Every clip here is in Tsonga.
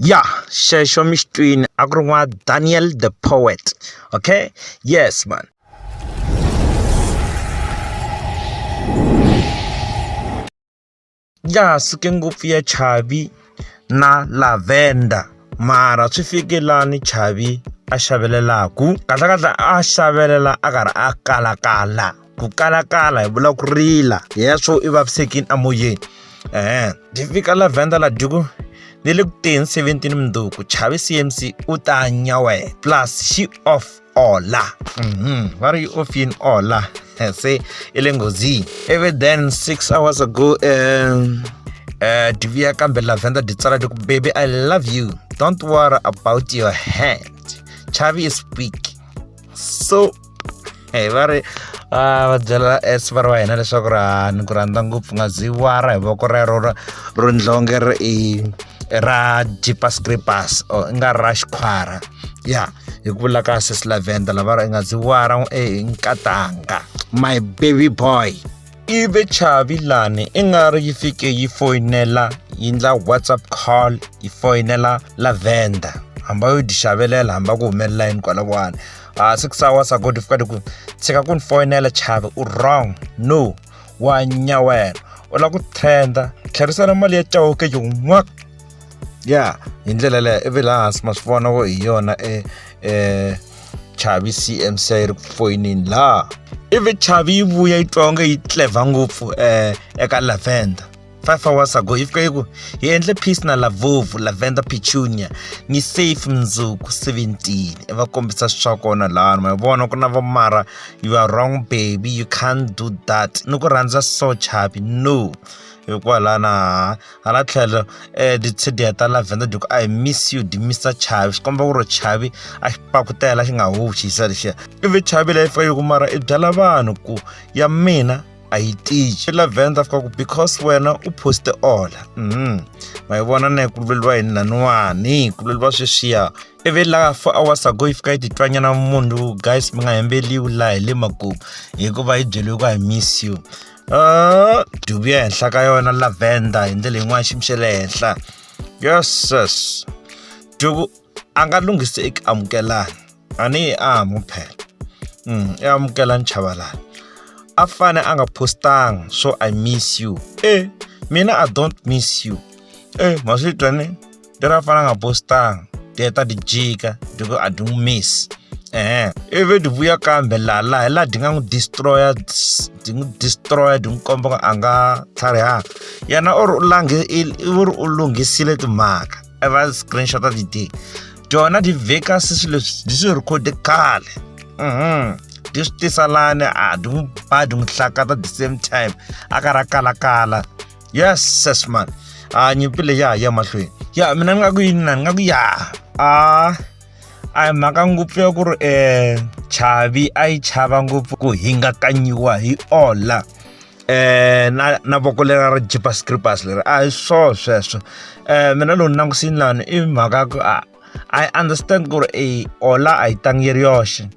ya xexo mi xi twini a ku ri n'wa daniel the poet okay yes man ya suke ngopfu ya chavi na lavender mara swi fike lani chavi a xavelelaku kahlekahle a xavelela a karhi a kalakala ku kalakala hi vula ku rila hi ya swo i vavisekini emoyeni um ti fika lavhenda la dyuku ni le ku teni 17 mundzuku chavi cmc u ta nyawela plus xi off ola mhm. va ri yi off yini ola se i le nghozini ivi then six hours ago um uh, diviya kambe lavhenda di tsala diku baby i love you don't worry about your hand chavi is weak so hi va ri va va byela esipara wa hina leswaku ra ni ku rhandza ngopfu nga byi wara hi voko rero ra ro ndlonge ri i ra jeepers creepers or i nga ra xikhwara ya hi ku vula ka sesi lavenda lava ri i nga byi wara i nkatanga my baby boy ivi chavi lani i nga ri yi fike yi foyinela yi ndla whatsapp call yi foyinela lavenda hamba yo di xavelela hamba ku humelela yini kwalawani a ah, six hours ago di fika di ku tshika ku ni foyinela chavi u wrong no wa nyawela u lava ku trenda tlherisela mali ya cawuke yin'waka ya hi ndlela leyo ivi laha hansi ma swi vona hi yona e e chavi cmc yi ri ku foyinini laha ivi chavi yi vuya yi twa onge yi tlevha ngopfu um eka lavender five hours ago yi fika yi ku hi endle peace na lavovu lavender petunia ni safe mundzuku 17 i va kombisa swi swa kona laha ma vona ku na va mara you are wrong baby you can't do that ni ku rhandza so chavi no hikwalaho na hala tlhelo um tichediya ta lavenda diku i miss you di misa chavi swi komba ku ri chavi a xi pakutela xi nga howuxi xisa lexiya ivi chavi leyi fika yi ku mara i byela vanhu ku ya mina a yi tiyi lavenda fika ku because wena u poste ola um ma yi vona na yi kuluveliwa yini laniwani yi kuluveliwa sweswiya mm. i ve la four hours ago yi fika yi titwanyana munhu guys mi nga hembeliwi laha hi le makumu hikuva yi byeliwe ku i miss you uh, dubu ya henhla ka yona lavenda hi ndlela yin'wana ximi xa le henhla yeses duku a nga lunghisi eku amukelana a ni yi amu phela um i amukelani chavalani a fane a nga postanga so i miss you e mina i don't miss you e ma swi twa ni ndi ra fana nga bostang ndi heta ndi jika ndi ku a ndi n'wi miss ehe ivi ndi vuya kambe laha laha hi laha ndi nga n'wi destroya ndi n'wi destroya ndi n'wi komba ku a nga tlharihanga yena u ri u lange u ri u lunghisile timhaka i va screenshot a ti-day dyona ti vheka se swilo leswi ndi swi rekhode khale mhm ndi swi tisa lani a ndi n'wi ba ndi n'wi hlakata the same time a ka ra kalakala yes ses man a nyipile ya ya mahlweni ya mina ni nga ku yini na ni nga ku ya a a hi mhaka ngopfu ya ku ri um chavi a yi chava ngopfu ku hingakanyiwa hi ola eh na na voko lera ra jipa scripers leri a hi swo sweswo eh mina lowu ni langusini lani i mhaka ku a i understand ku ri e ola a yi tangi yi ri yoxe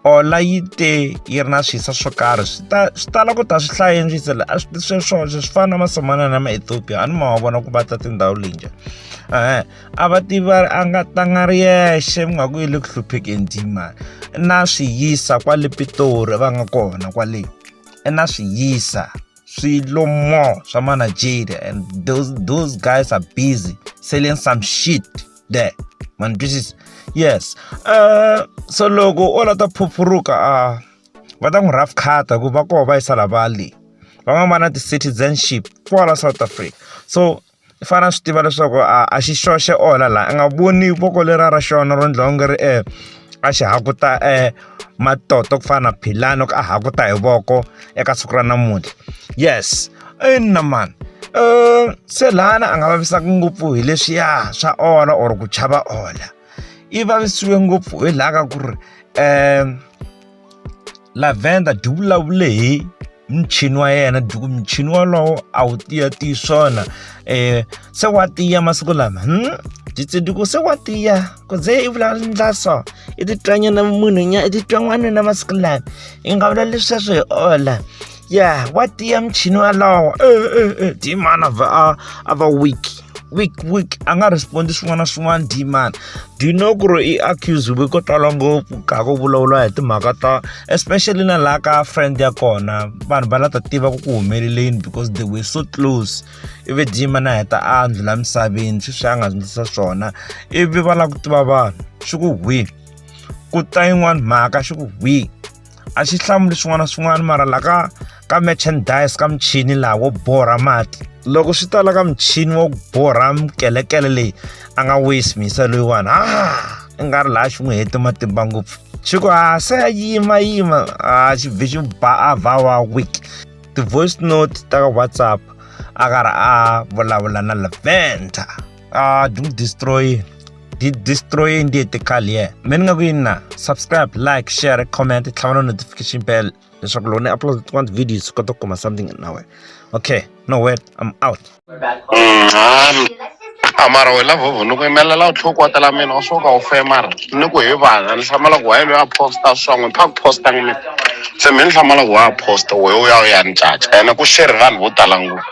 ola yi te yi ri na swisa swo karhi swi ta swi tala ku ta swi hlaya enjisela a swi sweswoswo swi fana na masamana na maethiopia a ni ma wa vona ku va ta tindhawu linje e-e a va tivi va ri a nga tanga ri yexe mi nga ku yi le ku hluphekeni dimani na swi yisa kwale pitori va nga kona kwale i na swi yisa swilo more swa mana jade and those, those guys are busy selling some shit there ma ni twisisa yes uh, so loko o la ta phuphuruka a uh, va ta n'wi rough cuta ku va koho va yisa lavali van'wana va na ti-citizenship kwala south africa so i fanele a swi tiva leswaku a a xi xoxe onha laha a nga voni voko leriya ra xona ro endliwa onge ri a xi hakuta matoto ku fana na philani loko a hakuta hi voko eka siku ra namuntlha yes ina mani um se lana a nga vavisaka ngopfu hi leswiya swa ola or ku chava ola i vavisiwe ngopfu hi laha ka ku ri um lavender byi vulavule hi muchini wa yena duku muchini wolowo a wu tiya tiyi swona um se wa tiya masiku lama hmm? ditsiduku se wa tiya ku ze i vulavula ndla so i titwanyana munhu nya i titwan'wanuna masiku lama i nga vulavuli sweswo hi ola ya wa tiya muchini walawo e eh, e eh, e eh, dimana va a a va weak week week a nga respondi swin'wana na swin'wana dman do you know ku ri i accusiwe ko tala ngopfu ka ku vulavula hi timhaka ta especially na laha ka friend ya kona vanhu va la ta tiva ku ku humeleleni because they were so close ivi dman a heta a ndlula misaveni sweswi a nga sindzisa swona ivi va lava ku tiva vanhu swi ku hwi ku ta yin'wana mhaka swi ku hwi a xi hlamuli swin'wana na swin'wana mara la ka ka merchandise ka muchini laha wo borha mati loko swi ta la ka muchini wo borha mukelekele leyi a nga wisi mhisa loyiwani ha i nga ri laha xi n'wi hete matimba ngopfu xi ku ha se ya yima yima a xi bvi xi ba a vha wa week ti-voice note ta ka whatsapp a karhi a vulavula na lavender ah do destroy di destroy ndi etikali ye me ni nga ku yini na subscribe like share comment tlhava na notification bell leswaku loko ni upload tin'wana ti-video swi kota ku kuma something na wena okay no word i'm out mm, amara we la vhovho ni ku yimelela u tlhoko watela mina u swo ka u femara ni ku hi vana ni hlamala ku waye loyi a posta swin'we pha ku posta ni mina se mi ni hlamala ku wa posta wehe u ya u ya ni caca ene ku sheri vanhu vo tala ngopfu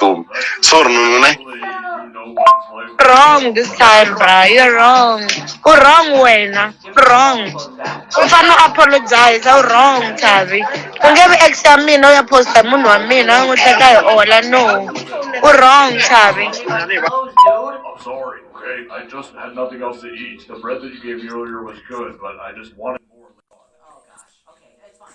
Boom. Sorry, no, no, no. wrong this time bra you're wrong u wrong wena wrong u fanele u apologize u wrong thavi u nge vi ex ya mina u ya posta hi munhu wa mina u n'wi hleka hi ola no u wrong thavi Close, dude. I'm sorry, okay? I just had nothing else to eat. The bread that you gave me earlier was good, but I just wanted more. Oh gosh. Okay, it's fine.